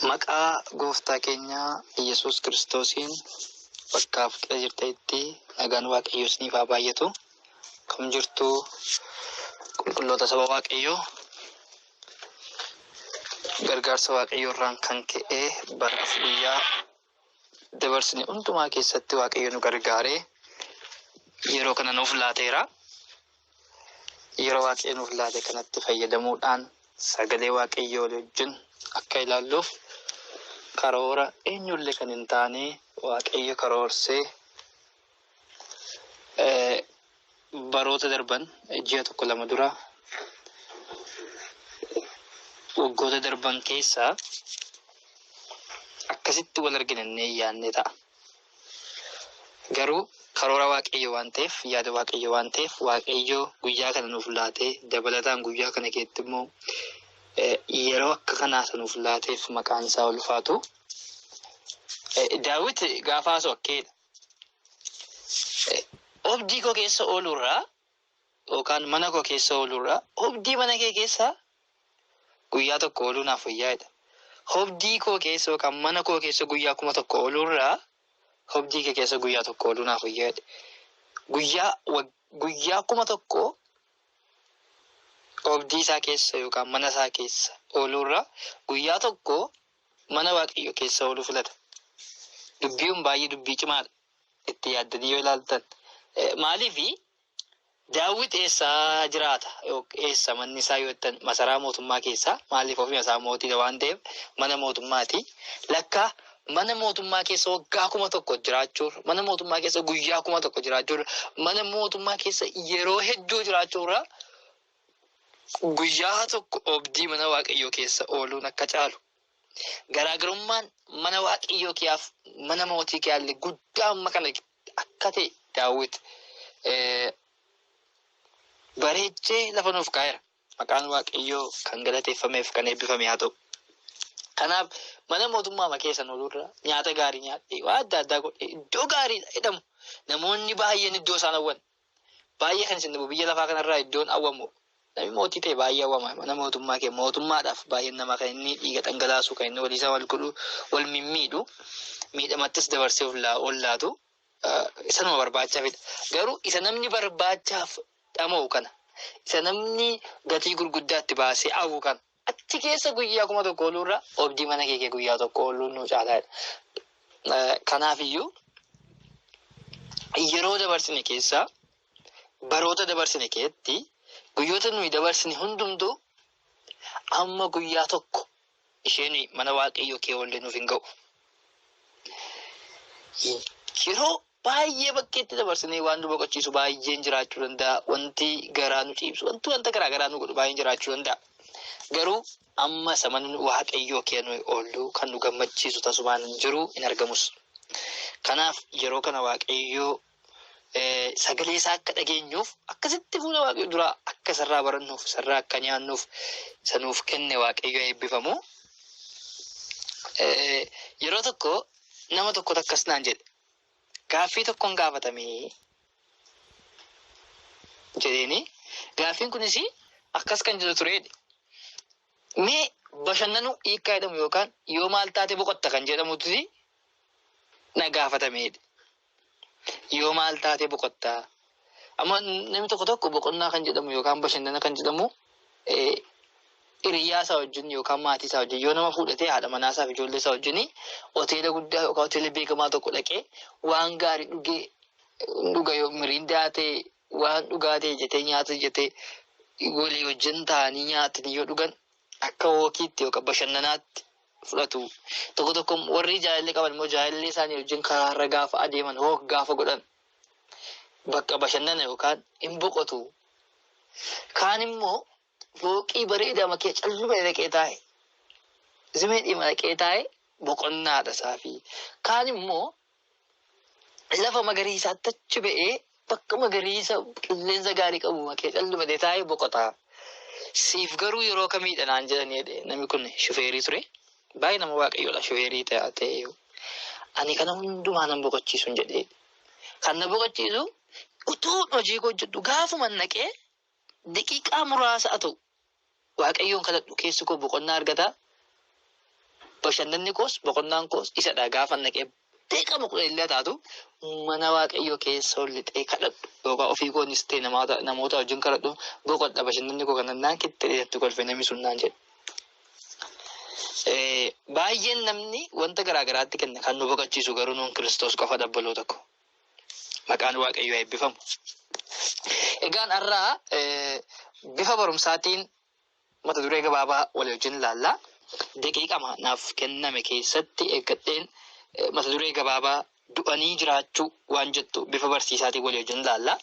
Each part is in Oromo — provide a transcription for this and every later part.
Maqaa gooftaa keenya Yesuus Kiristoosiin bakkaaf qira jirtanitti nagaan Waaqayyoo isiniif haa baay'atu. Kam jirtu qulqulloota saba Waaqayyoo gargaarsa Waaqayyoo irraan kan ka'e baraaf guyyaa dabarsine hundumaa keessatti Waaqayyo nu gargaaree yeroo kana nuuf laateera. Yeroo Waaqayyo nuuf laate kanatti fayyadamuudhaan sagalee Waaqayyoo walii wajjin akka ilaalluuf karoora eenyullee kan hin taane Waaqayyo karoorsee Baroota darban ji'a tokko lama dura waggoota darban keessa akkasitti wal arginannee yaadne ta'a. Garuu karoora waaqayyo waan ta'eef yaada waaqayyo waan ta'eef waaqayyo guyyaa kana nuuf laatee dabalataan guyyaa kana keessatti immoo yeroo akka kanaa isa nuuf laateef maqaan isaa ulfaatu. Daawit gaafa haasoo akkeedha. Obdii koo keessa oolurraa yookaan mana koo keessa oolurraa obdii mana kee keessa guyyaa tokko ooluu naaf wayyaa'edha. Obdii koo keessa yookaan mana koo keessa guyyaa kuma tokko oolurraa obdii kee keessa guyyaa tokko ooluu naaf wayyaa'edha. Guyyaa guyyaa kuma tokko obdii isaa keessa yookaan mana isaa keessa oolurraa guyyaa tokko mana Waaqayyoo keessa ooluu filata. Dubbii kun baay'ee dubbii cimaadha. Itti yaaddanii yoo ilaaltan. Maaliif daawwit eessaa jiraata? Eessa manni isaa yoo jettan masaraa mootummaa keessaa maaliif ofii isaa mootiidha waan ta'eef mana mootummaati. Lakkaa mana mootummaa keessa waggaa kuma tokko jiraachuurra mana mootummaa keessa guyyaa kuma tokko jiraachuurra mana mootummaa keessa yeroo hedduu jiraachuurra Guyyaa tokko oobdii mana Waaqayyoo keessa ooluun akka caalu, garaagarummaan mana Waaqayyoo keeaaf mana mootii keeaallee guddaa amma kana akka ta'e Daawit bareechee lafa nuuf kaa'eera. Maqaan Waaqayyoo kan galateeffameef kan eebbifame haa ta'u. Kanaaf mana mootummaa keessa oolurra nyaata gaarii nyaadhee waa adda addaa godhee iddoo gaariidha jedhamu namoonni baay'een iddoo isaan hawwan Baay'ee kan isin dhibu biyya lafaa kana irraa iddoon awwamu namni mootii ta'e baay'ee awwama mana mootummaa kee mootummaadhaaf baay'een namaa kan inni dhiiga dhangalaasu kan inni walii isaa wal godhu wal mimmiidhu miidhamattis dabarsee ollaa ollaatu isa nama barbaachaafidha garuu isa namni barbaachaaf dhama'u kana isa namni gatii gurguddaatti baasee awwu kana Achi keessa guyyaa kuma tokko ooluurra obdii mana kee kee guyyaa tokko ooluun nu caalaadha. Kanaafiyyuu yeroo dabarsine keessaa baroota dabarsine keessatti guyyoota nuyi dabarsine hundumtuu amma guyyaa tokko ishee nuyi mana waaqayyoo kee oollee nuuf hin ga'u. Yeroo Baay'ee bakkeetti dabarsinee waan nu boqochiisu baay'een jiraachuu danda'a. Wanti garaa nu ciibsu, wanti wanta garaa garaa nu godhu baay'een jiraachuu danda'a. Garuu amma isa manni Waaqayyoo kee nuyi oollu kan nu gammachiisu tasumaan hin jiru hin argamus. Kanaaf yeroo kana Waaqayyoo sagalee isaa akka dhageenyuuf akkasitti fuula Waaqayyoo duraa akka isarraa barannuuf isarraa akka nyaannuuf isa nuuf kenne Waaqayyoo eebbifamu. Yeroo tokko nama tokkotu akkas naan jedhe. gaaffii tokkon gaafatamee jedheeni gaaffiin kunis akkas kan jedhu tureedha. Mee bashannanuu hiikkaa jedhamu yookaan yoo maal taate boqotta kan jedhamutu na gaafatameedha. Yoo maal taate boqotta Amma namni tokko tokko boqonnaa kan jedhamu yookaan bashannana kan jedhamu hiriyaa isaa wajjin yookaan maatii isaa wajjin yoo nama fuudhatee haadha manaa isaa fi ijoollee isaa wajjin hoteela guddaa yookaan hoteela beekamaa tokko dhaqee waan gaarii dhugee dhuga yoo miriindaa ta'e waan dhugaa ta'e jetee nyaata jetee walii wajjin taa'anii nyaatanii yoo dhugan akka hookiitti yookaan bashannanaatti fudhatu. Tokko tokko warri jaalallee qaban immoo jaalallee isaanii wajjin karaa irra gaafa adeeman hook gaafa godhan bakka bashannana yookaan hin boqotu. Kaan immoo fooqii bareedaa makee calluma dhaqee taa'e. Zimee dhima dhaqee taa'e boqonnaadha isaafii. Kaan immoo lafa magariisaatti achi ba'ee bakka magariisa qilleensa gaarii qabu makee calluma dhaqee taa'e boqota. Siif garuu yeroo kamiidha naan jedhanii jedhe namni kun shufeerii ture. Baay'ee nama waaqayyoodha shufeerii ta'aa ta'eeyyuu. Ani kana hundumaa nan boqochiisuun jedhee kan na boqochiisu utuu hojii koo hojjedhu gaafuma naqee daqiiqaa muraasa haa ta'u waaqayyoon kadhadhu keessi koo boqonnaa argata. Bashannanni koos boqonnaan koos isadha gaafa naqee beekama kudha illee taatu mana waaqayyoo keessa ol lixee kadhadhu yookaan ofii koonis ta'e namoota namoota wajjin kadhadhu boqodha bashannanni koo kana naan kitte jedhetti kolfe namni sun naan jedhe. Eh, Baay'een namni wanta garaa garaatti kenna kan nu boqachiisu garuu nuun kiristoos qofa dabbaloo tokko maqaan waaqayyoo eebbifamu. Egaan har'aa eh, bifa barumsaatiin Mata duree gabaabaa walii wajjin ilaalla. Daqiiqama naaf kenname keessatti eeggadheen mata duree gabaabaa du'anii jiraachuu waan jettu bifa barsiisaatiin walii wajjin ilaalla.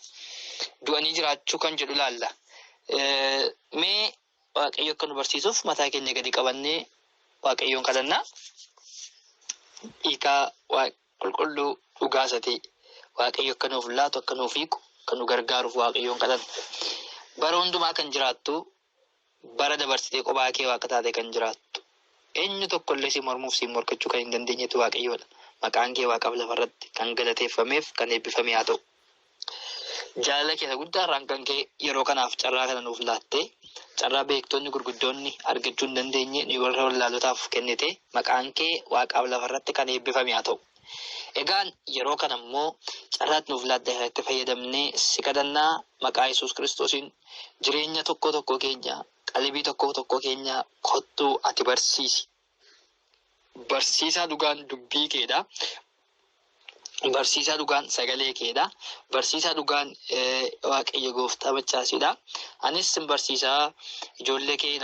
Du'anii jiraachuu kan jedhu ilaalla. Mee Waaqayyo akka nu barsiisuuf mataa keenya gadi qabannee Waaqayyoon kadhannaa. Hiikaa qulqulluu dhugaa isa ta'e waaqayyo akka nuuf laatu akka nuuf hiiku akka nu gargaaruuf waaqayyoon kadhanna. Bara hundumaa kan jiraattu bara dabarsitee qophaa kee waaqa taatee kan jiraattu eenyu tokko illee si mormuuf si morkachuu kan hin dandeenyetu waaqayyoodha. Maqaan kee waaqaaf lafarratti kan galateeffameef kan eebbifame haa ta'u. Jaalala keessa guddaa irraan kan ka'e yeroo kanaaf carraa kana nuuf laattee carraa beektoonni gurguddoonni argachuu hin dandeenye nuyi warra wallaalotaaf kennite maqaan kee waaqaaf lafa irratti kan eebbifame haa ta'u. Egaan yeroo kana immoo carraatti nuuf laatte kanatti fayyadamnee si kadhannaa maqaa Yesuus Kiristoosiin jireenya tokkoo tokkoo keenya qalbii tokkoo tokkoo keenya kottuu ati barsiisi Barsiisaa dhugaan dubbii keedha. Barsiisaa dhugaan sagalee keedha. Barsiisaa dhugaan waaqayyo gooftaa maccaasidha. Anis sin barsiisaa ijoollee kee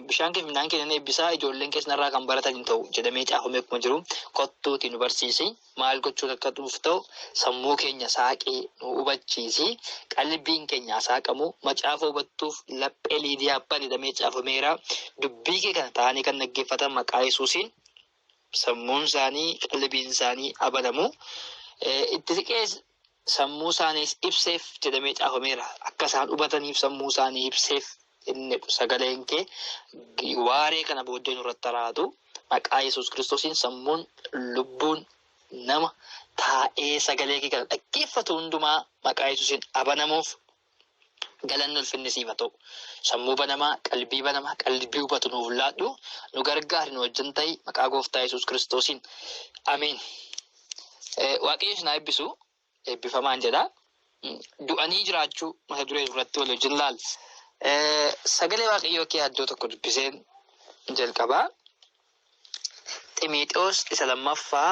bishaan kee midhaan kee nan eebbisaa ijoolleen kees narraa kan baratan hin ta'u jedhamee caafamee akkuma jiru kottuuti nu barsiisi. Maal gochuun akka nuuf ta'u sammuu keenya saaqii nu hubachiisi. Qalbiin keenya haa saaqamu. Macaafa hubattuuf laphee Liidiyaa bani jedhamee caafameera. Dubbii kee kana taa'anii kan dhaggeeffatan maqaa Yesuusiin sammuun isaanii qalbiin isaanii haa banamu. Eh, Itti siqees sammuu isaaniis ibseef jedhamee caafameera. Akka isaan hubataniif sammuu isaanii ibseef inni sagaleen kee waaree kana booddee nurratti haraatu maqaa Yesuus Kiristoosiin sammuun lubbuun nama taa'ee sagalee kee kana dhaggeeffatu hundumaa maqaa Yesuusiin abanamuuf Galanni ulfinni siif haa ta'u. Sammuu banamaa, qalbii banamaa, qalbii hubatu nuuf laadhu, nu gargaari, nu wajjin ta'i, maqaa gooftaa Yesuus Kiristoosiin. Ameen. Waaqayyo isin haa eebbisu. Eebbifamaan jedha. Du'anii jiraachuu mata duree irratti wal wajjin laal. Sagalee Waaqayyoo kee addoo tokko dubbiseen jalqabaa. Ximiixoos isa lammaffaa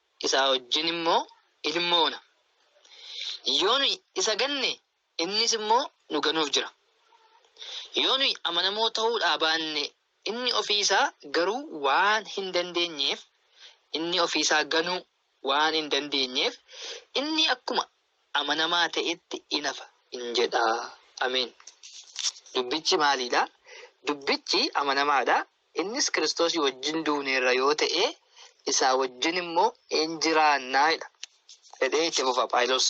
isaa wajjin immoo in moona. Yoo nuyi isa ganne, innis immoo nu ganuuf jira. Yoo nuyi amanamoo ta'uudhaa baanne, inni ofii isaa garuu waan hin dandeenyeef, inni ofii isaa ganuu waan hin dandeenyeef, inni akkuma amanamaa ta'etti in hafa in jedha. Ameen. Dubbichi maalii dha? Dubbichi amanamaa dha. Innis Kiristoosii wajjin duuneerra yoo ta'e, isaa wajjin immoo in jiraanna jedha. jedhee itti fufa Phaawulos.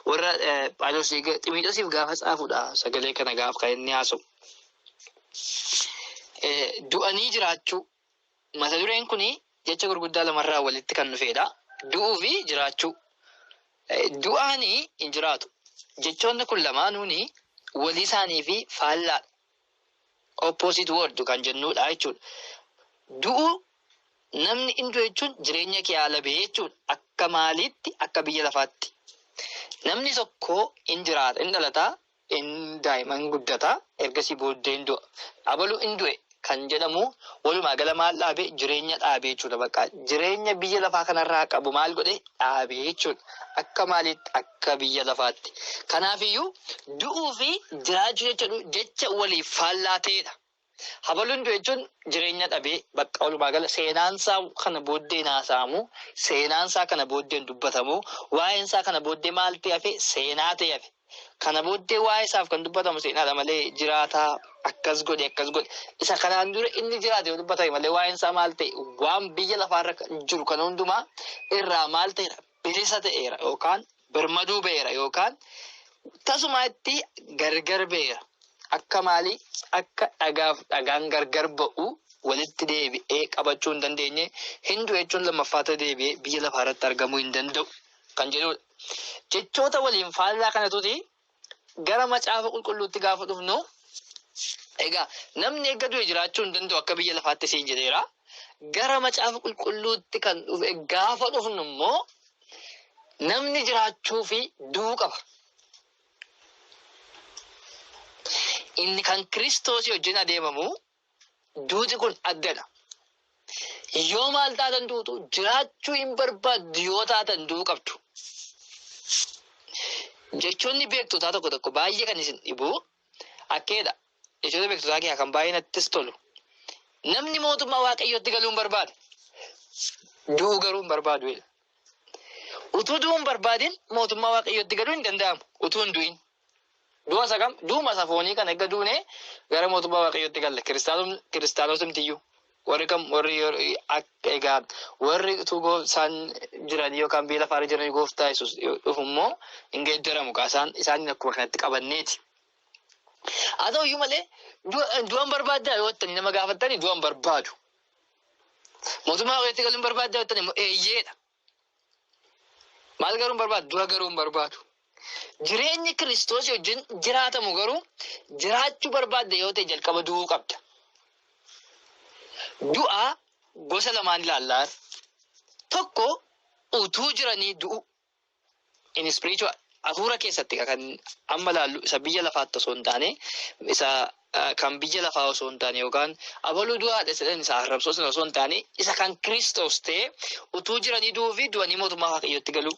Warra Phaawulos Ximotewosiif gaafa caafudha sagalee kana gaafa kan inni haasa'u. Du'anii jiraachuu mata dureen kun jecha gurguddaa lamarraa walitti kan dhufeedha. Du'uu fi jiraachuu. Du'aanii hin jiraatu. Jechoonni kun lamaanuun walii isaanii fi faallaadha. Opposite word kan jennuudha jechuudha. Du'uu namni in du'e jechuun jireenya kee haala ba'ee jechuudha. Akka maaliitti akka biyya lafaatti. Namni tokko in jiraata in dhalata in daa'ima in guddata ergasii booddee in du'a. Abalu in du'e kan jedhamu walumaa gala maal dhaabe jireenya dhaabe jechuudha bakka jireenya biyya lafaa kanarraa qabu maal godhe dhaabe jechuudha. Akka maaliitti akka biyya lafaatti. Kanaafiyyuu du'uu fi jiraachuu jecha du- jecha waliif faallaa ta'edha. Habaluun du'e jechuun jireenya dhabee bakka walumaa gala seenaansaa kana booddeen haasa'amu, seenaansaa kana booddeen dubbatamu, waa'eensaa kana booddee maal ta'e hafe seenaa ta'e hafe. Kana booddee waa'ee isaaf kan dubbatamu seenaadha malee jiraata akkas godhe akkas godhe isa kanaan dura inni jiraate yoo dubbatame malee waa'een isaa maal ta'e waan biyya lafaarra jiru kan hundumaa irraa maal ta'eera bilisa ta'eera yookaan birmaduu ba'eera yookaan tasumaa itti gargar ba'eera akka maalii akka dhagaaf dhagaan gargar ba'u walitti deebi'ee qabachuu hin dandeenye hindu jechuun lammaffaa ta'e deebi'ee biyya lafaarratti argamuu hin danda'u kan jedhudha. Jechoota waliin faallaa kanatuti gara macaafa qulqulluutti gaafa dhufnu egaa namni erga du'e jiraachuu hin danda'u akka biyya lafaatti siin jedheera. Gara macaafa qulqulluutti kan dhufe gaafa dhufnu immoo namni jiraachuu fi du'uu qaba. Inni kan Kiristoosii wajjin adeemamu Duuti kun addadha. Yoo maal taatan duutu jiraachuu hin barbaaddu yoo taatan du'uu qabdu. Jechoonni beektotaa tokko tokko baay'ee kan isin dhibu akkeedha. Jechoota beektotaa keessaa kan baay'ee nattis tolu. Namni mootummaa waaqayyootti galuu hin barbaadu. Du'uu garuu hin barbaadu. Utuu du'uu hin barbaadin mootummaa waaqayyootti galuu hin danda'amu. Utuu hin du'in. Du'a isa kam? Du'uma isa foonii kana erga duunee gara mootummaa Waaqayyootti galle. Kiristaanum- Kiristaanotumtiyyuu warri kam warri yeroo- ak- egaa warri utuu goo- isaan jiran yookaan biyya lafaarra jiran gooftaa Yesuus dhufu immoo hin geeddaramu kaa isaan isaaniin akkuma kanatti qabanneeti. Haa ta'u iyyuu malee du'a- du'an barbaaddaa yoo jettanii nama gaafattanii du'an barbaadu. Mootummaa Waaqayyootti galuu hin barbaaddaa yoo jettanii immoo eeyyeedha. Maal garuu hin barbaadu? Du'a garuu hin barbaadu. Jireenyi Kiristoos wajjin jiraatamu garuu jiraachuu barbaadda yoo ta'e jalqaba du'uu qabda. Du'a gosa lamaan ilaallaa. Tokko utuu jiranii du'u. in spiritual afuura keessatti kan amma laallu isa biyya lafaatti osoo hin taane isa kan biyya lafaa osoo hin taane yookaan abaluu du'aadha jedhan isa arrabsoo sana osoo hin taane isa kan kiristoos ta'e utuu jiranii du'uu fi du'anii mootummaa waaqayyootti galuu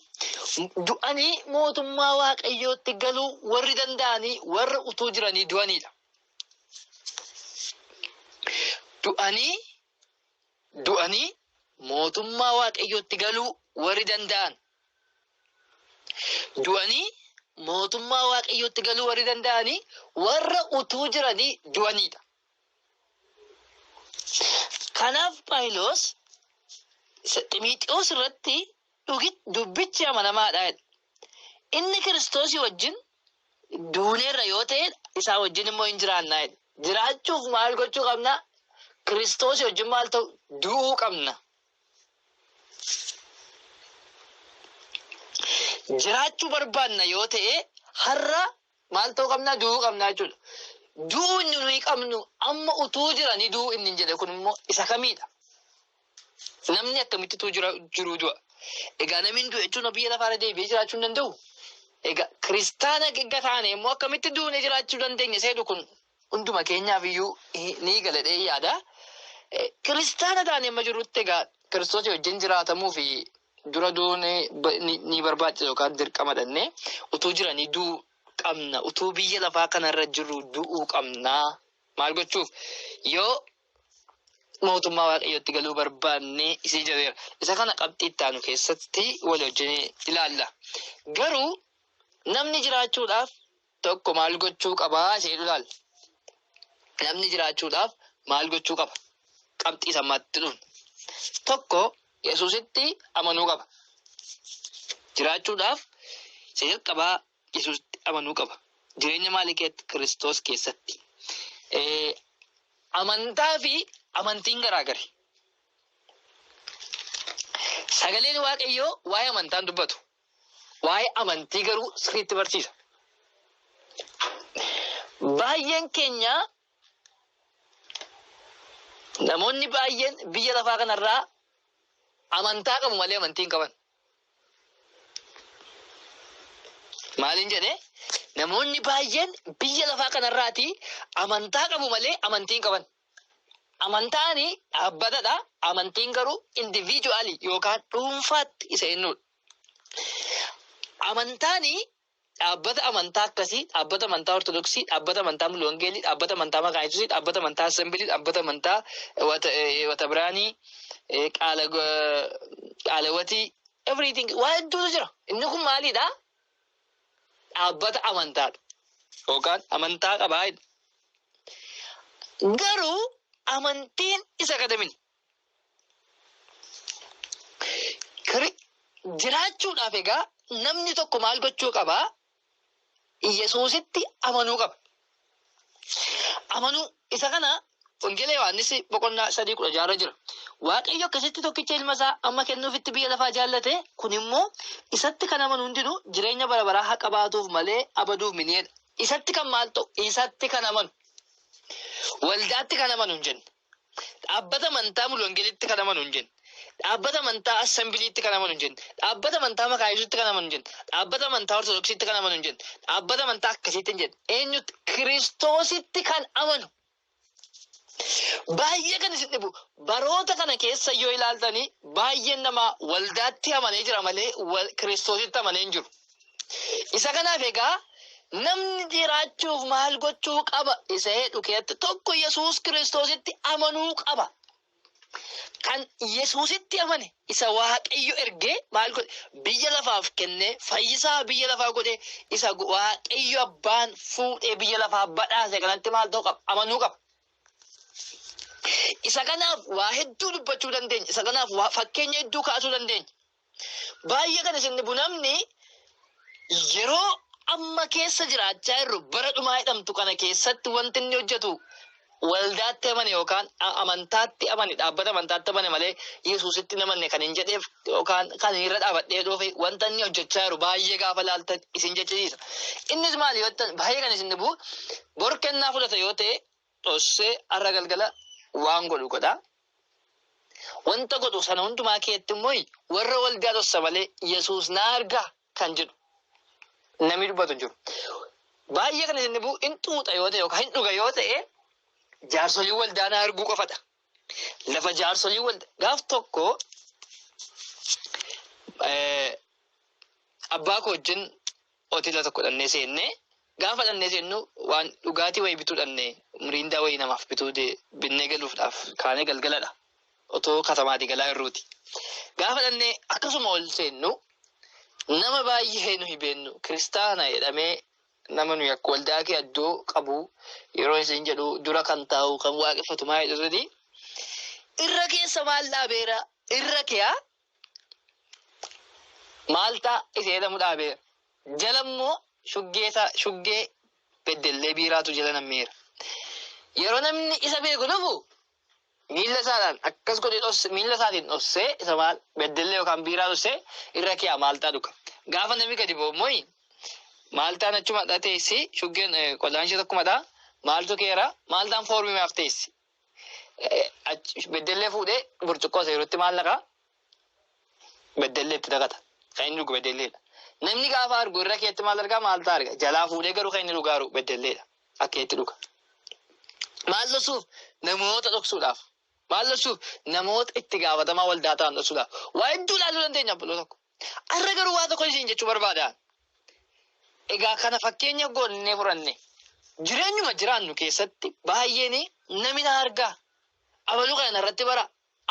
du'anii mootummaa waaqayyootti galuu warri danda'anii warra utuu jiranii du'aniidha. Du'anii du'anii mootummaa waaqayyootti galuu warri danda'an Du'anii mootummaa Waaqayyootti galuu warri danda'ani warra utuu jiranii du'aniidha. Kanaaf Phaawulos Ximiixoos irratti dubbichi amanamaadha jedha. Inni Kiristoosii wajjin duuneerra yoo ta'e isaa wajjin immoo hin jiraanna jedha. Jiraachuuf maal gochuu qabna? Kiristoosii wajjin maal ta'u? Du'uu qabna. Jiraachuu barbaanna yoo ta'e har'a maal ta'uu qabnaa du'uu qabnaa jechuudha. Du'uu inni nuyi qabnu amma utuu jiranii du'uu inni hin jedhe kun immoo isa kamiidha? Namni akkamitti utuu jira- jiruu du'a? Egaa namni hin du'e jechuun biyya lafaarra deebi'ee jiraachuu hin danda'u. Egaa kiristaana gegga taane immoo akkamitti duune jiraachuu dandeenya seedu kun Hunduma keenyaaf iyyuu ni gala jedhee yaada. Kiristaana taanee amma jirrutti egaa Kiristoosii wajjin jiraatamuu fi dura du'uun ni barbaachisa yookaan dirqama dhannee utuu jiranii du'uu qabna. Utuu biyya lafaa kanarra jirru du'uu qabna. Maal gochuuf yoo mootummaa waaqayyootti galuu barbaanne isii jedheera. Isa kana qabxii itti aanu keessatti walii wajjin ilaalla. Garuu namni jiraachuudhaaf tokko maal gochuu qaba isa jedhu ilaalla. Namni jiraachuudhaaf maal gochuu qaba? Qabxii sammaatti dhufna. Tokko Yesuusitti amanuu qaba. Jiraachuudhaaf isa jalqabaa Yesuusitti amanuu qaba. Jireenya maalii keessatti? Kiristoos keessatti. Eh, Amantaa fi amantiin garaagari. Sagaleen Waaqayyoo waa'ee amantaan dubbatu. Waa'ee amantii garuu sirriitti barsiisa. Baay'een keenya namoonni baay'een biyya lafaa kanarraa amantaa qabu malee amantii hin qaban. Maaliin jedhee namoonni baay'een biyya lafaa kanarraati amantaa qabu malee amantii hin qaban. Amantaani dhaabbatadha, amantiin garuu individually yookaan dhuunfaatti isa ennudha. Amantaani dhaabbata amantaa akkasii, dhaabbata amantaa Ortodoksii, dhaabbata amantaa Mulu Wangeelii, dhaabbata amantaa Makaana Yesuusii, dhaabbata amantaa Assembilii, dhaabbata amantaa Watabiraanii, Qaala Qaalawatii, everything waa hedduutu jira. Inni kun maalidha? dhaabbata amantaadha yookaan amantaa qabaa jedha. Garuu amantiin isa kadamini. Jiraachuudhaaf egaa namni tokko maal gochuu qabaa? Yesuusitti amanuu qaba. Amanuu isa kana Wangeela Yohaannis boqonnaa sadii kudha jaarra jira. Waaqayyo akkasitti tokkicha ilma isaa amma kennuufitti biyya lafaa jaallate kun immoo isatti kan amanu hundinuu jireenya bara baraa haa qabaatuuf malee abaduuf mini'edha. Isatti kan maal ta'u? Isatti kan amanu. Waldaatti kan amanu hin jenne. Dhaabbata amantaa Mulu Wangelitti kan amanu hin jenne. Dhaabbata amantaa Assembiliitti kan amanu hin jenne. Dhaabbata amantaa Makaa Yesuusitti kan amanu hin jenne. Dhaabbata amantaa Ortodoksiitti kan amanu hin jenne. Dhaabbata amantaa akkasiitti hin jenne. Eenyutti? Kiristoositti kan amanu. Baay'ee kan isin dhibu baroota kana keessa yoo ilaaltanii baay'een namaa waldaatti amanee jira malee Kiristoositti amanee hin jiru. Isa kanaaf egaa namni jiraachuuf maal gochuu qaba isa jedhu keessatti tokko Yesuus Kiristoositti amanuu qaba. Kan Yesuusitti amane isa Waaqayyo ergee maal godhe biyya lafaaf kennee fayyisaa biyya lafaa godhee isa Waaqayyo abbaan fuudhee biyya lafaa badhaase kanatti maal ta'uu qaba amanuu qaba. Isa kanaaf waa hedduu dubbachuu dandeenya. Isa kanaaf waa fakkeenya hedduu kaasuu dandeenya. Baay'ee kan isin dhibu namni yeroo amma keessa jiraachaa jirru bara dhumaa jedhamtu kana keessatti wanti inni hojjetu waldaatti amane yookaan a- amantaatti amane dhaabbata amantaatti amane malee Yesuusitti hin amanne kan hin jedheef yookaan kan hin irra dhaabadhee dhufe wanta inni hojjechaa jiru baay'ee gaafa laaltan isin jechisiisa. Innis maali yoo ta'an baay'ee kan isin dhibu bor kennaa fudhata yoo ta'e dhossee har'a galgala waan godhu godha. Wanta godhu sana hundumaa keetti immoo warra waldaa dhossa malee Yesuus na arga kan jedhu namni dubbatu hin jiru. Baay'ee kan isin dhibu hin xuuxa yoo ta'e yookaan hin dhuga yoo ta'e jaarsolii waldaa na arguu qofadha. Lafa jaarsolii waldaa gaaf tokko abbaa koo wajjin hoteela tokko dhannee seennee gaafa dhannee seennu waan dhugaatii wayii bituu dhannee miriindaa wayii namaaf bituu de- binnee galuufdhaaf kaanee galgaladha. Otoo katamaatii galaa irruuti. Gaafa dhannee akkasuma ol seennu nama baay'ee nuyi beennu kiristaana jedhamee nama nuyi akka waldaa kee addoo qabu yeroo isin jedhu dura kan taa'u kan waaqeffatu maa jedhu irra keessa maal dhaabeera irra keeyaa Maaltaa isa jedhamu dhaabee jala immoo shuggee isaa shuggee beddellee biiraatu jala nammeera. Yeroo namni isa beeku dhufu miilla isaadhaan akkas godhee dhosse miilla isaatiin dhossee isa maal beddellee yookaan biiraa dhossee irra kiyaa maaltaa dhuga. Gaafa namni gadi ba'u immoo maaltaan achuma dha teessi shuggeen qodaan ishee tokkuma dha maaltu keera maaltaan foormii maaf teessi Beddellee fuudhee burcuqqoo seerutti maal naqaa? Beddellee itti naqata. Kan inni dhugu beddelleedha. Namni gaafa argu irra keetti maal argaa maal ta'a arga? Jalaa fuudhee garuu kan inni dhugaa jiru beddelleedha. Akka itti dhuga. Maal dhoksuuf? Namoota dhoksuudhaaf. Maal dhoksuuf? Namoota itti gaafatamaa waldaa ta'an dhoksuudhaaf. Waa hedduu ilaaluu dandeenya obboloota tokko. Har'a garuu waa tokko isin jechuu barbaada. Egaa kana fakkeenya goonnee furanne. Jireenyuma jiraannu keessatti baay'een namni na argaa. Abaluu kana narratti bara.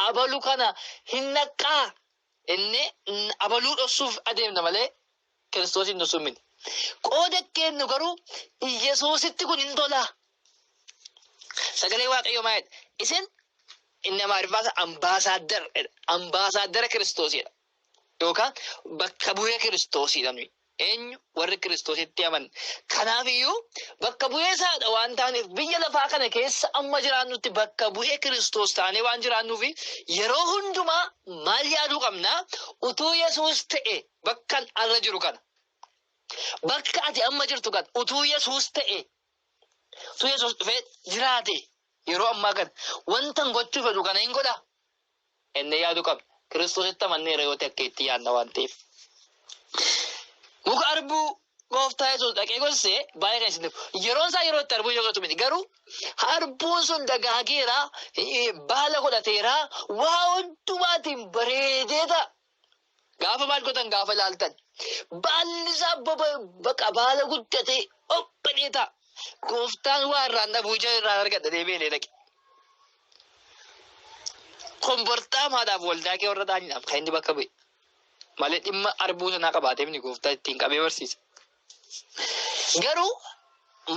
Abaluu kana hin dhaqqaa. Inni abaluu dhossuuf adeemna malee kiristoos hin dhossuun miti. Qooda keennu garuu Iyyasuusitti kun hin tolaa. Sagalee Waaqayyoo maayedha. Isin inni Amaariffaa ambaasaaddara ambaasaaddara kiristoosidha. Yookaan bakka bu'ee Kiristoosiidha nuyi. Eenyu? Warri Kiristoositti amanne. Kanaafiyyuu bakka bu'ee isaadha waan taaneef biyya lafaa kana keessa amma jiraannutti bakka bu'ee Kiristoos taanee waan jiraannuufi yeroo hundumaa maal yaaduu qabna? Utuu Yesuus ta'e bakkan arra jiru kana. Bakka ati amma jirtu kana utuu Yesuus ta'e utuu Yesuus dhufee jiraate yeroo ammaa kana wantan gochuu fedhu kana hin godhaa? jennee yaaduu qabna. Kiristoositti amanneerra yoo ta'e akka itti yaadna waan ta'eef. Muka arbuu gooftaa Yesuus dhaqee gosse baay'ee kan isin yeroon isaa yeroo itti arbuun yookaatu miti garuu arbuun sun dagaageera baala godhateera waa hundumaatiin bareedeeta Gaafa maal godhan gaafa laaltan baalli isaa baqa baala guddatee obbalee ta'a. Gooftaan waa irraan dhabuu ija irraan argadha deebi'ee illee dhaqe. Kombortaa maadhaaf waldaa kee warra ta'aniidhaaf kan inni bakka bu'e. Malee dhimma arbuu sanaa qabaatee miti gooftaa ittiin qabee barsiisa. Garuu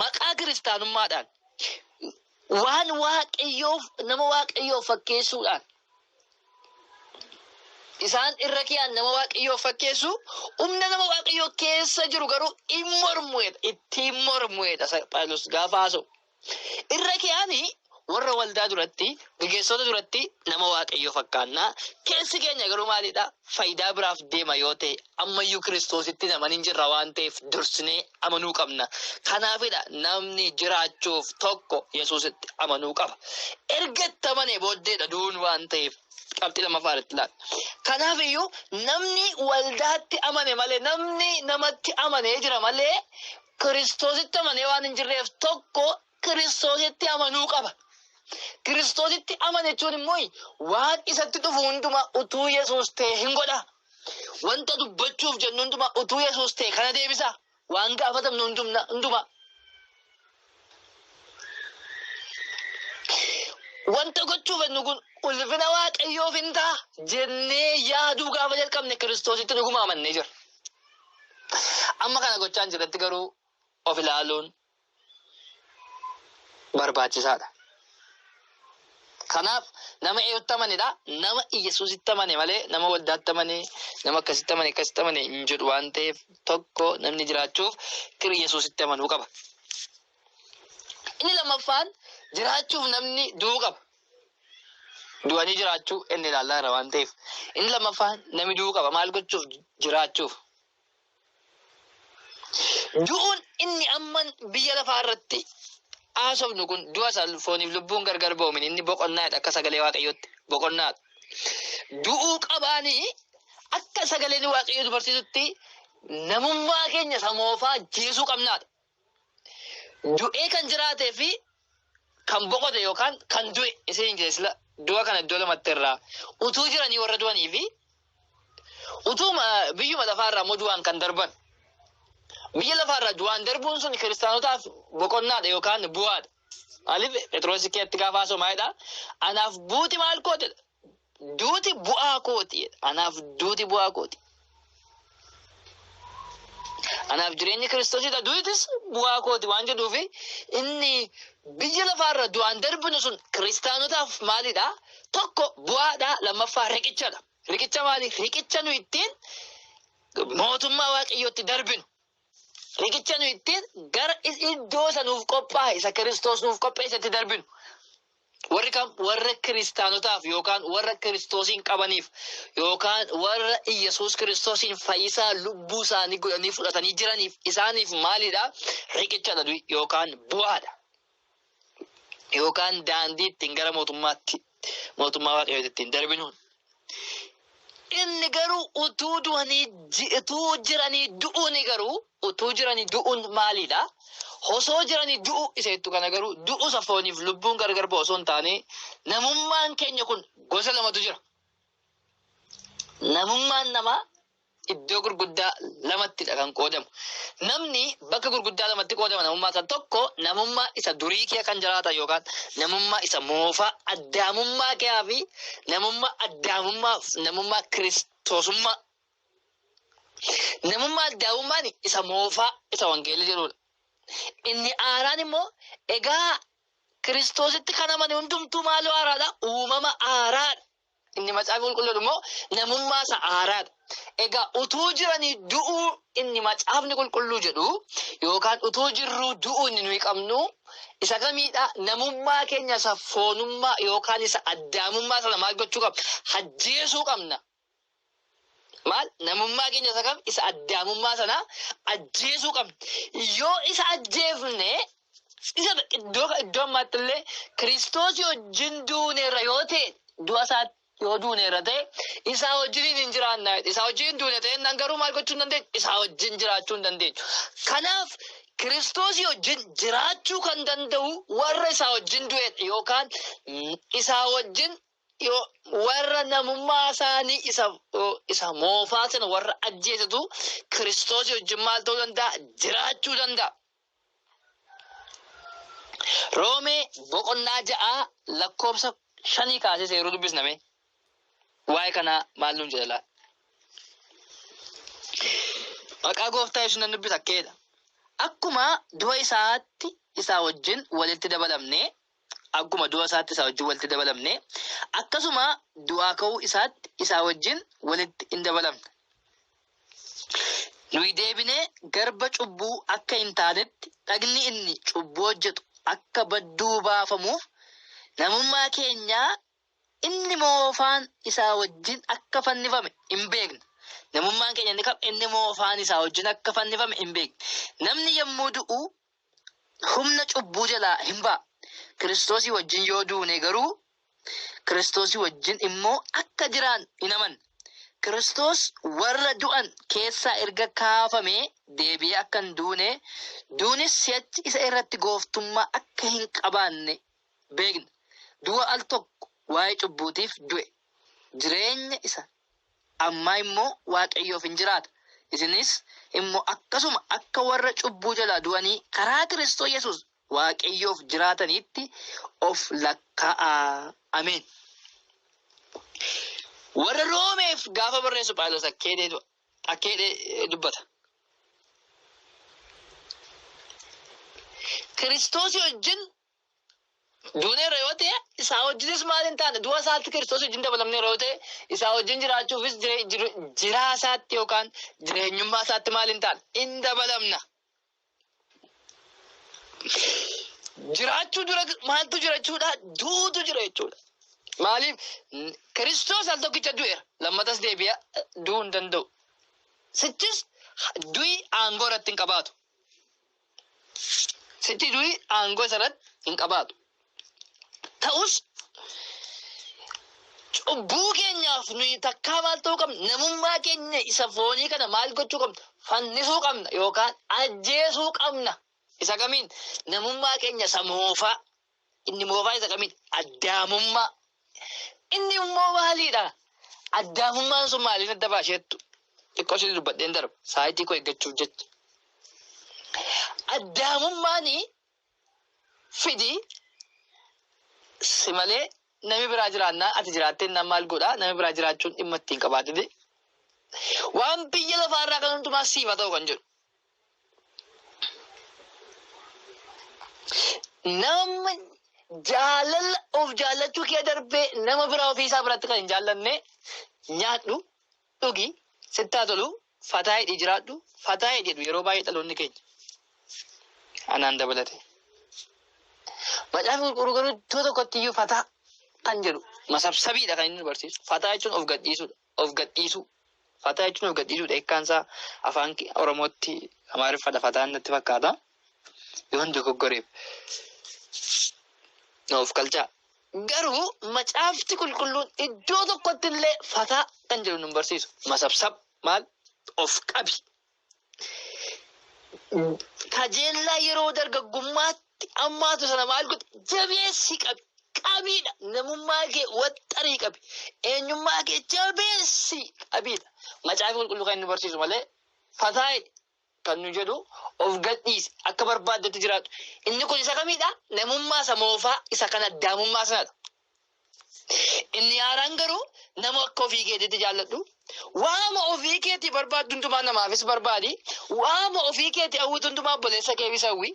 maqaa kiristaanummaadhaan waan waaqayyoof nama waaqayyoof fakkeessuudhaan Isaan irra kiyaan nama waaqayyoo fakkeessu, humna nama waaqayyoo keessa jiru garuu in mormuedha, ittiin mormuedha Phaawulos gaafa haasa'u. Irra kiyaan warra waldaa duratti, gaggeessitoota duratti nama waaqayyoo fakkaannaa, keessi keenya garuu maalidha? fayidaa biraaf deema yoo ta'e ammayyuu kiristoositti hin amanin jirra waan ta'eef dursinee amanuu qabna. Kanaafidha namni jiraachuuf tokko Yesuusitti amanuu qaba. Erga itti amanee booddeedha du'uun waan ta'eef qabxii lammaffaa irratti ilaala. Kanaafiyyuu namni waldaatti amane malee namni namatti amanee jira malee kiristoositti amanee waan hin jirreef tokko Kiristoositti amanuu qaba. Kiristoositti amana jechuun immoo waan isatti dhufu hundumaa utuu Yesuus ta'e hin godha. Wanta dubbachuuf jennu hundumaa utuu Yesuus ta'e kana deebisa. Waan gaafatamnu hundumna- hundumaa. Wanta gochuuf jennu kun ulfina Waaqayyoof hin ta'a jennee yaaduu gaafa jalqabne Kiristoositti dhuguma amannee jira. Amma kana gochaan jirratti garuu of ilaaluun barbaachisaa dha. Kanaaf nama eenyutti amane dha? Nama Iyyasuusitti amane malee nama waldaatti amane, nama akkasitti amane, akkasitti amane hin jedhu waan ta'eef tokko namni jiraachuuf Kir Iyyasuusitti amanuu qaba. Inni lammaffaan jiraachuuf namni du'uu qaba. Du'anii jiraachuu inni ilaallaa irra waan ta'eef. Inni lammaffaan namni du'uu qaba. Maal gochuuf? Jiraachuuf. Du'uun inni amman biyya lafaa irratti haasofnu kun du'a isa fooniif lubbuun gargar ba'u miti. Inni boqonnaa dha akka sagalee Waaqayyootti. Boqonnaa dha. Du'uu qabaanii akka sagaleen Waaqayyoo nu barsiisutti namummaa keenya isa moofaa ajjeesuu qabnaa dha. du'ee kan jiraatee fi kan boqote yookaan kan du'e isa hin jedhe sila du'a kana iddoo lamatti irraa utuu jiranii warra du'anii fi utuu ma- biyyuma lafaa irraa immoo du'aan kan darban biyya lafaa irraa du'aan darbuun sun kiristaanotaaf boqonnaadha yookaan bu'aadha. Maaliif Phexroos keessatti gaafa haasa'u maalidha? Anaaf buuti maal kootedha? duuti bu'aa kooti jedha. Anaaf duuti bu'aa kooti. Anaaf jireenyi Kiristoosidha. Duutis bu'aa kooti waan jedhuufi inni biyya lafaarra du'aan darbinu sun kiristaanotaaf maalidha? Tokko bu'aadha, lammaffaa riqichadha. Riqicha maali? Riqicha nu ittiin mootummaa waaqayyootti darbinu. Riqicha nu ittiin gara iddoo isa nuuf qophaa'e isa Kiristoos nuuf qopheesse itti darbinu. Warri kam warra kiristaanotaaf yookaan warra Kiristoosiin qabaniif yookaan warra Iyyasuus Kiristoosiin fayyisaa lubbuu isaanii godhanii fudhatanii jiraniif isaaniif maalidha? Riqichadha du'i yookaan bu'aadha. yookaan daandii ittiin gara mootummaatti mootummaa waaqayyooti ittiin darbinuun inni garuu utuu du'anii ji- utuu jiranii du'uun garuu utuu jiranii du'uun maaliidha? Osoo jiranii du'u isa jettu kana garuu du'u isa fooniif lubbuun gargar ba'u osoo hin taane namummaan keenya kun gosa lamatu jira. Namummaan namaa iddoo gurguddaa lamatti dha kan qoodamu. Namni bakka gurguddaa lamatti qoodama namummaa isaa. Tokko namummaa isa durii kee kan jiraatan yookaan namummaa isa moofaa addaamummaa keeyaa fi namummaa addaamummaa fi namummaa kiristoosummaa. Namummaa addaamummaan isa moofaa isa wangeelli jedhudha. Inni haaraan immoo egaa kiristoositti kan amane hundumtuu maaloo haaraadha uumama haaraadha. Inni Macaafa Qulqulluu jedhu immoo namummaa isa haaraa dha. Egaa utuu jiranii du'uu inni Macaafni Qulqulluu jedhu yookaan utuu jirruu du'uu inni nuyi qabnu isa kamiidha? Namummaa keenya isa foonummaa yookaan isa addaamummaa sana maal gochuu qabna? Ajjeesuu qabna. Maal? Namummaa keenya isa kam? Isa addaamummaa sana ajjeesuu qabna. Yoo isa ajjeefne isa iddoo iddoo ammaatti illee Kiristoos wajjin duuneerra yoo ta'e du'a isaa yoo duuneerra ta'e isaa wajjin hin jiraanna. Isaa wajjin hin duune ta'e nan garuu maal gochuu hin dandeenyu? Isaa wajjin jiraachuu hin dandeenyu. Kanaaf Kiristoos wajjin jiraachuu kan danda'u warra isaa wajjin du'edha yookaan isaa wajjin Dhiyoo warra namummaa isaanii isa, isa moofaa sana warra ajjeesetu Kiristoosii wajjin maal ta'uu danda'a? Jiraachuu danda'a. Roomee boqonnaa ja'aa lakkoofsa shanii kaasee seeruu dubbisname. Waa'ee kanaa maal nuun jedha laa? Maqaa gooftaa yesuus nan dubbisa akkeedha. Akkuma du'a isaatti isaa wajjin walitti dabalamnee akkuma du'a isaatti isaa wajjin walitti dabalamne, akkasuma du'aa ka'uu isaatti isaa wajjin walitti in dabalamna. Nuyi deebinee garba cubbuu akka hin taanetti dhagni inni cubbuu hojjetu akka badduu baafamuuf namummaa keenyaa inni moofaan isaa wajjin akka fannifame hin beekna. Namummaan keenya inni kam inni moofaan isaa wajjin akka fannifame hin beekna. Namni yommuu du'u humna cubbuu jalaa hin ba'a. Kiristoosii wajjin yoo duune garuu Kiristoosii wajjin immoo akka jiraan in amanna. Kiristoos warra du'an keessaa erga kaafamee deebi'ee akka hin duune, duunis si'achi isa irratti gooftummaa akka hin qabaanne beekna. Du'a al tokko waa'ee cubbuutiif du'e, jireenya isa Amma immo Waaqayyoof in jiraata, isinis immo akkasuma akka warra cubbuu jalaa du'anii karaa Kiristoo Yesuus Waaqayyoof jiraataniitti of lakkaa'aa. Ameen. Warra Roomeef gaafa barreessu Phaawulos akka jedhe akka jedhe dubbata. Kiristoosii wajjin Duuneerra yoo ta'e isaa wajjinis maal hin taane du'a isaatti Kiristoos wajjin dabalamneerra yoo ta'e isaa wajjin jiraachuufis jire- jir- jiraa isaatti yookaan jireenyummaa isaatti maal hin taane hin dabalamna. Jiraachuu dura maaltu jira jechuudha? Duutu jira jechuudha. Maaliif N- Kiristoos al tokkicha du'eera lammatas deebi'a du'uu hin danda'u. Sichis du'i aangoo irratti hin qabaatu. Sitti durii aangoo isarratti hin qabaatu. Ta'us cubbuu keenyaaf nuyi takkaa maal ta'uu qabna? Namummaa keenya isa foonii kana maal gochuu qabna? Fannisuu qabna yookaan ajjeesuu qabna. Isa kamiin? Namummaa keenya isa moofaa. Inni moofaa isa kamiin addaamummaa. Inni immoo maaliidha? Addaamummaan sun maaliin adda baasheettu? Xiqqoo ishee dubbadheen darba. Saayitii koo eeggachuuf jecha. Addaamummaan fidi si malee nami biraa jiraannaa ati jiraattee innaan maal godhaa? Nami biraa jiraachuun dhimma ittiin qabaatite. Waan biyya lafaarraa kan hundumaa siif haa ta'u kan jedhu. Namni jaalala of jaallachuu kee darbee nama biraa ofii isaa biratti kan hin jaallanne nyaadhu, dhugi, sitti haa tolu, fataa hidhi jiraadhu, fataa hidhi jedhu yeroo baay'ee dhaloonni keenya. Anaan dabalate. Macaafa qulqulluu garuu iddoo tokkotti iyyuu fataa kan jedhu masabsabiidha kan inni nu barsiisu. Fataa jechuun of gadhiisudha. Of gadhiisuu. Fataa jechuun of gadhiisuudha. Hiikkaan isaa afaan Oromootti Amaariffadha fataan natti fakkaata. Yoon dogoggoreef. Na of kalchaa. Garuu macaafti qulqulluun iddoo tokkotti illee fataa kan jedhu nun barsiisu. Masabsab maal of qabi Kajeellaa yeroo dargaggummaatti ammaatu sana maal godhi? Jabeessi qabi. Qabiidha. Namummaa kee waxxarii qabi. Eenyummaa kee jabeessi qabiidha. Macaafi qulqulluu kan inni barsiisu malee fataa'i kan nu jedhu of gadhiisi akka barbaaddetti jiraadhu. Inni kun isa kamiidha? Namummaa isa moofaa isa kan addaamummaa sanadha. Inni haaraan garuu nama akka ofii keetiitti jaalladhu. Waama ofii keetii barbaaddu hundumaa namaafis barbaadi. Waama ofii keetii hawwitu hundumaa obboleessa keefis hawwi.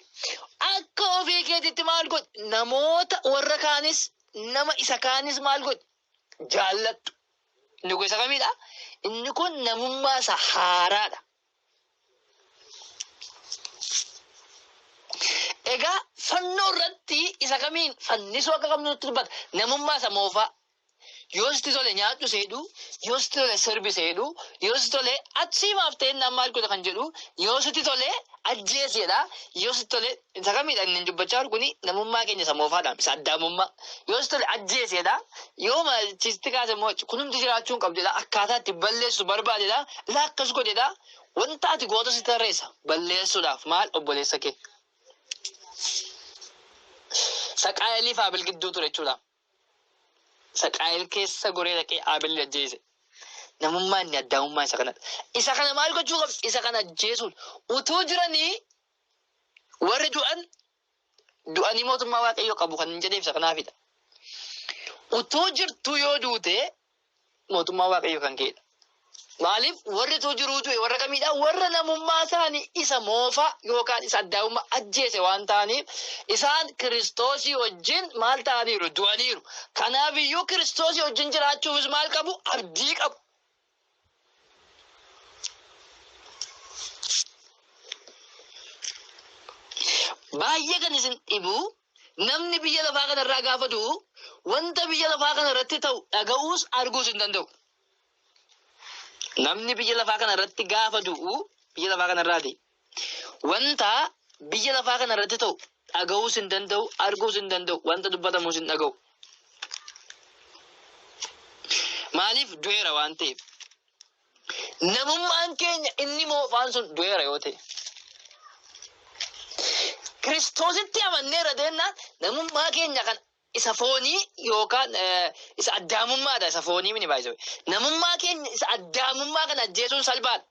Akka ofii keetiitti maal godhi? Namoota warra kaanis nama isa kaanis maal godhi? Jaalladhu. Inni kun isa kamiidha? Inni kun namummaa isa haaraadha. Egaa fannoo irratti isa kamiin fannisuu akka qabnu nutti dubbata. Namummaa isa moofaa. Yoo sitti tole nyaadhu seedhu, yoo sitti tole sirbi seedhu, yoo sitti tole achi maaf ta'een naan maal godha kan jedhu, yoo sitti tole ajjeesi jedha, yoo sitti tole Isa kamidha inni dubbachaa jiru kuni namummaa keenya isa moofaadhaam isa addaamummaa yoo si tole ajjeeseedha yoo machiisti kaase immoo kunumti jiraachuu hin qabdedha akkaataa itti balleessu barbaadedha ilaa akkas godhedha wanta ati goota si tarreessa balleessuudhaaf maal obboleessa kee saqaa'elii fi abil gidduu ture jechuudha saqaa'el keessa goree dhaqee abil ajjeese namummaa inni addaamummaa isa kanadha isa kana maal gochuu qabdi isa kana ajjeesuun utuu jiranii Warri du'an du'anii mootummaa Waaqayyoo qabu kan hin jedheef isa kanaafidha. Utuu jirtuu yoo duute mootummaa Waaqayyoo kan ka'edha. Maaliif warri utuu jiruu du'e warra kamiidha? Warra namummaa isaanii isa moofaa yookaan isa addaa'ummaa ajjeese waan ta'aniif isaan kiristoosii wajjin maal ta'aniiru? Du'aniiru. Kanaafiyyuu kiristoosii wajjin jiraachuufis maal qabu? Abdii qabu. Baay'ee kan isin dhibu namni biyya lafaa kanarraa gaafa du'u wanta biyya lafaa kanarratti ta'u dhaga'uus arguus hin danda'u. Namni biyya lafaa kanarratti gaafa du'u biyya lafaa kanarraati Wanta biyya lafaa kana irratti ta'u dhaga'uus hin danda'u, arguus hin danda'u, wanta dubbatamus hin dhaga'u. Maaliif du'eera waan ta'eef. Namummaan keenya inni moofaan sun du'eera yoo ta'e. Kiristoositti amanneerra deennaan namummaa keenya kan isa foonii yookaan eh, isa addaamummaadha isa foonii mini baay'isuu. Namummaa keenya isa addaamummaa kana ajjeesuun salphaadha.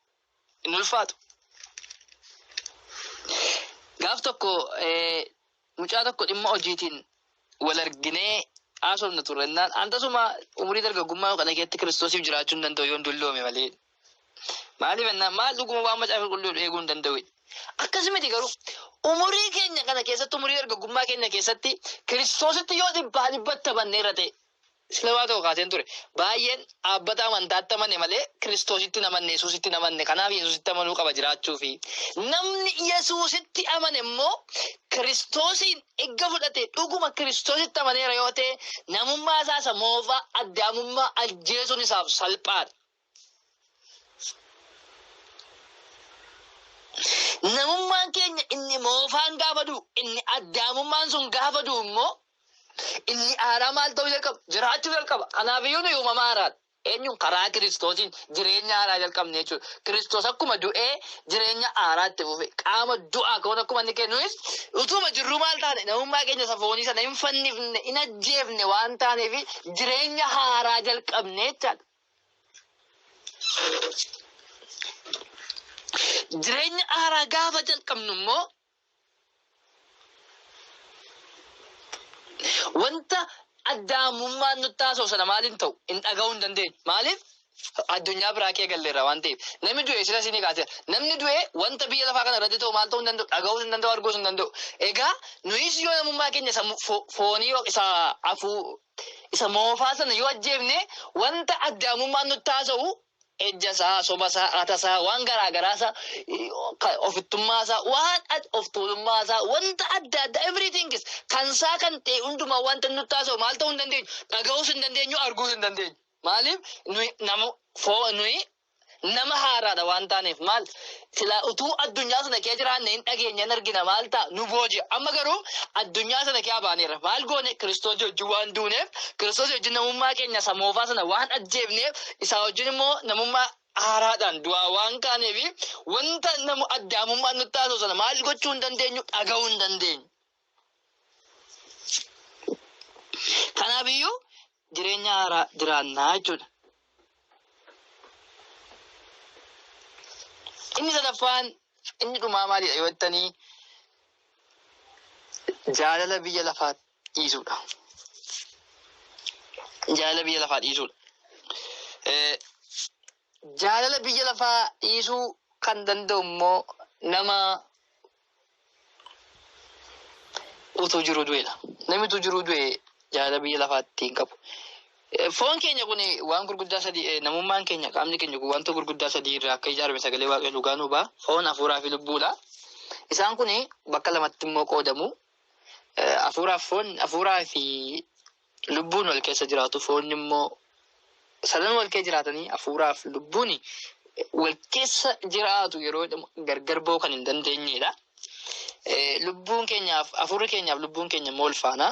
hin ulfaatu. Gaaf tokko mucaa tokko dhimma hojiitiin wal arginee haasofna turre innaan an tasuma umurii dargaggummaa kana keessatti kiristoosiif jiraachuu hin danda'u yoon dulloome malee. Maaliif innaan maal dhuguma waan macaafa qulqulluu eeguu hin danda'u. Akkas miti garuu umurii keenya kana keessatti umurii dargaggummaa keenya keessatti kiristoositti yoo dhibbaa dhibbatti banne irra ta'e Islamaa ta'u kaaseen ture. Baay'een dhaabbata amantaatti amane malee Kiristoositti hin amanne, Yesuusitti hin amanne. Kanaaf Yesuusitti amanuu qaba jiraachuufi. Namni Yesuusitti amane immoo Kiristoosiin egga fudhate dhuguma Kiristoositti amaneera yoo ta'e namummaa isaa isa moofaa, Addaamummaa, ajjeesuun isaaf salphaadha. Namummaan keenya inni moofaan gaafa du'u, inni addaamummaan sun gaafa du'u immoo inni haaraa maal ta'uu jalqaba? Jiraachuu jalqaba. Kanaaf iyyuu nuyi uumama haaraadha. Eenyuun karaa Kiristoosiin jireenya haaraa jalqabne jechuudha. Kiristoos akkuma du'ee jireenya haaraa itti fufe. Qaama du'aa ka'uun akkuma inni ka'e nuyis utuma jirruu maal taane namummaa keenya isa foonii sana hin fannifne, hin ajjeefne waan taaneef jireenya haaraa jalqabne jechaadha. Jireenya haaraa gaafa jalqabnu immoo wanta addaamummaan nutti haasa'u sana maaliin ta'u hin dhaga'uu hin dandeenyu. Maaliif? Addunyaa biraa kee galleerra waan ta'eef. Namni du'e silas ni kaasee. Namni du'e wanta biyya lafaa kana irratti ta'u maal ta'uu hin danda'u, dhaga'uu hin danda'u, arguus hin danda'u. Egaa nuyis yoo namummaa keenya isa foonii isa afuu Isa moofaa sana yoo ajjeefne wanta addaamummaan nutti haasa'u ejjasaa, sobasaa, hatasaa, waan garaa garaasaa, ofittummaasaa, waan of tuulummaasaa, wanta adda addaa everythingis kansaa kan ta'e hundumaa wanta nutti haasa'u maal ta'uu hin dandeenyu? Dhaga'uus hin dandeenyu, arguus hin dandeenyu. Maaliif nuyi nama foon nuyi Nama haaraadha waan taaneef maal silaa utuu addunyaa sana kee jiraanne hin dhageenya hin argina maal ta'a nu booji'a. Amma garuu addunyaa sana kee abaaneera. Maal goone Kiristoos wajjin waan duuneef Kiristoos wajjin namummaa keenya isa moofaa sana waan ajjeefneef isaa wajjin immoo namummaa haaraadhaan du'aa waan kaaneefi wanta namu addaamummaan nutti haasa'u sana maal gochuu hin dandeenyu dhaga'uu hin dandeenyu. Kanaaf iyyuu jireenya haaraa jiraannaa jechuudha. Inni sadaffaan inni dhumaa maalidha yoo jettanii jaalala biyya lafaa dhiisuudha. Jaalala biyya lafaa dhiisuudha. Eh, Jaalala biyya lafaa dhiisuu kan danda'u immoo nama utuu jiruu du'eedha. Namni utuu jiruu du'e jaalala biyya lafaatti hin qabu. Eh, Foon keenya kun waan gurguddaa sadii eh, namummaan keenya qaamni keenya kun wanta gurguddaa sadii irraa akka ijaarame sagalee waaqayyo dhugaa nu ba'a. Foon hafuuraa fi lubbuudha. Isaan kun bakka lamatti immoo qoodamu. Eh, Hafuuraaf foon hafuuraa fi lubbuun wal keessa jiraatu, foonni immoo sadan wal keessa jiraatanii hafuuraaf lubbuun wal keessa jiraatu yeroo jedhamu gargar ba'uu kan hin dandeenyedha. Lubbuun keenyaaf hafuurri keenyaaf lubbuun keenya immoo wal faana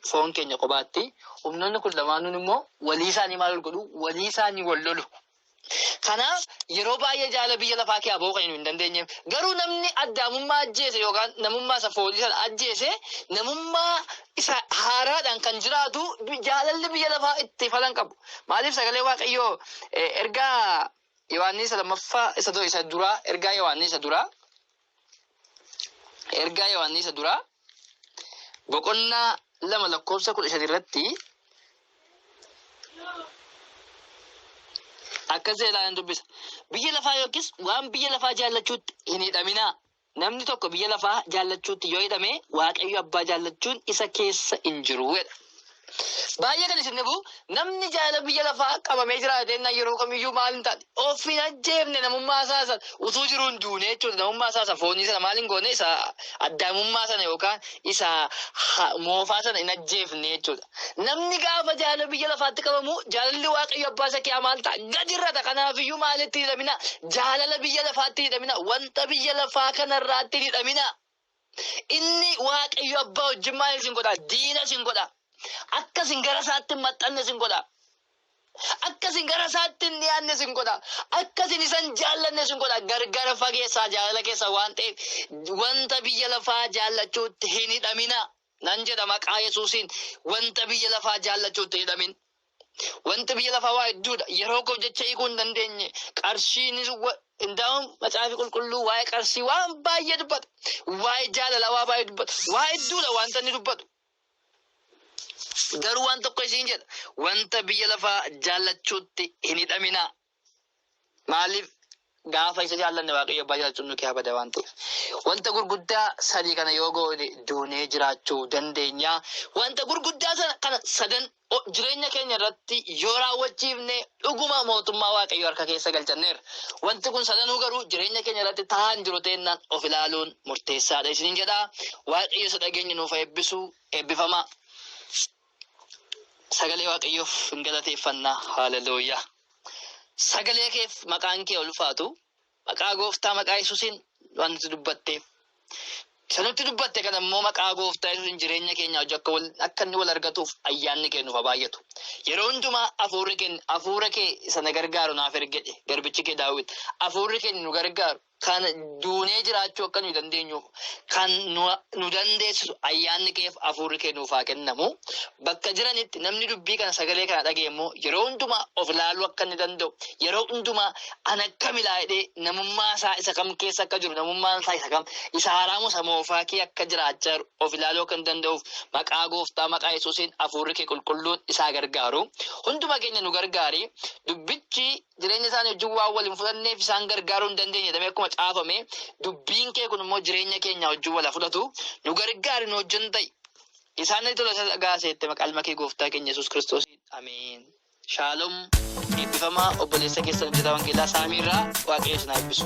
foon keenya kophaatti. Humnoonni kun lamaanuun immoo walii isaanii maal godhu? Walii isaanii wal lolu. Kanaaf yeroo baay'ee jaalala biyya lafaa kee aboo kan hin dandeenyeef. Garuu namni addaamummaa ajjeese yookaan namummaa isa foolii sana ajjeese namummaa isa haaraadhaan kan jiraatu jaalalli biyya lafaa itti falan qabu. Maaliif sagalee Waaqayyoo ergaa Yohaannis lammaffaa isa duraa ergaa Yohaannis isa duraa Ergaa Yohaannisa duraa boqonnaa lama lakkoofsa kudha shan irratti akkas jedhee ilaalan dubbisa. Biyya lafaa yookiis waan biyya lafaa jaallachuutti hin hidhaminaa. Namni tokko biyya lafaa jaallachuutti yoo hidhame waaqayyo abbaa jaallachuun isa keessa hin jiru jedha. Baay'ee kan isin dhibu namni jaalala biyya lafaa qabamee jiraatee na yeroo kamiyyuu maal hin taane of hin ajjeefne namummaa isaa san utuu jiruu hin duune jechuudha namummaa isaa isa foonii sana maal hin goone isa addaamummaa sana yookaan isa ha- moofaa sana hin ajjeefne jechuudha. Namni gaafa jaalala biyya lafaatti qabamu jaalalli waaqayyo abbaa isa kiyaa maal ta'a gadi irra ta'a kanaafiyyuu maalitti hidhamina jaalala biyya lafaatti hidhamina wanta biyya lafaa kanarraatti hidhamina. Inni Waaqayyo abbaa wajjin maal isin godha? Diina isin godha. Akka isin gara isaatti hin maxxanne isin godha. Akka isin gara isaatti hin dhiyaanne isin godha. Akka isin isa hin jaallanne isin godha. Gargar fageessaa jaalala keessa waan ta'eef wanta biyya lafaa jaallachuutti hin hidhaminaa. Nan jedha maqaa Yesuusiin wanta biyya lafaa jaallachuu itti hidhamin. Wanti biyya lafaa waa hedduudha. Yeroo koo jecha hiikuu hin dandeenye. Qarshiinis indaa'uun macaafi qulqulluu waa'ee qarshii waan baay'ee dubbata. Waa'ee jaalalaa waa baay'ee dubbata. Waa hedduudha wanta inni dubbatu. Garuu waan tokko isiin jedha. Wanta biyya lafaa jaallachuutti hin hidhaminaa. Maaliif gaafa isa jaallanne Waaqayyo abbaa jaalchuun nu keessaa bada waan ta'eef. Wanta gurguddaa sadii kana yoo goone duunee jiraachuu dandeenya. Wanta gurguddaa sana kana sadan o- jireenya keenya irratti yoo raawwachiifne dhuguma mootummaa Waaqayyo harka keessa galchanneerra. Wanti kun sadanuu garuu jireenya keenya irratti ta'aa hin jiru ta'ennaan of ilaaluun murteessaadha isiniin jedha. Waaqayyo isa dhageenye nuuf haa eebbisu eebbifamaa. Sagalee Waaqayyoof hin galateeffannaa. Haalelooyaa. Sagalee keef maqaan kee ulfaatu. Maqaa gooftaa maqaa Yesuusiin waan nuti dubbatte. Isa nutti dubbatte kana immoo maqaa gooftaa Yesuusiin jireenya keenya hojii akka wal akka inni wal argatuuf ayyaanni kee nuuf haa baay'atu. Yeroo hundumaa hafuurri kee hafuura kee isa na gargaaru naaf ergedhe garbichi kee daawwit hafuurri kee nu gargaaru kan duunee jiraachuu akka nuyi dandeenyu kan nu dandeessisu ayyaanni keef hafuurri kee nuuf haa kennamu. Bakka jiranitti namni dubbii kana sagalee kana dhaga'e immoo yeroo hundumaa of ilaaluu akka inni danda'u yeroo hundumaa an akkam ilaalee namummaa isaa isa kam keessa akka jiru namummaan isaa isa kam isa haaraa moo isa moofaa kee akka jiraachaa jiru of ilaaluu akka hin danda'uuf maqaa gooftaa maqaa yesuusiin hafuurri kee qulqulluun isaa gargaaru hunduma keenya nu gargaari dubbichi jireenya isaanii wajjin waan wal hin fudhanneef isaan gargaaruu hin dandeenye jedhamee akkuma caafame dubbiin kee kun immoo jireenya keenya wajjin wal haa fudhatu nu gargaari nu wajjin ta'i isaan ni tola isa dhagaaseette maqaalma kee gooftaa keenya yesus kiristoos ameen shaalom eebbifama obboleessa keessan hojjetaa wangeelaa saamiirraa waaqayyo isin haa eebbisu.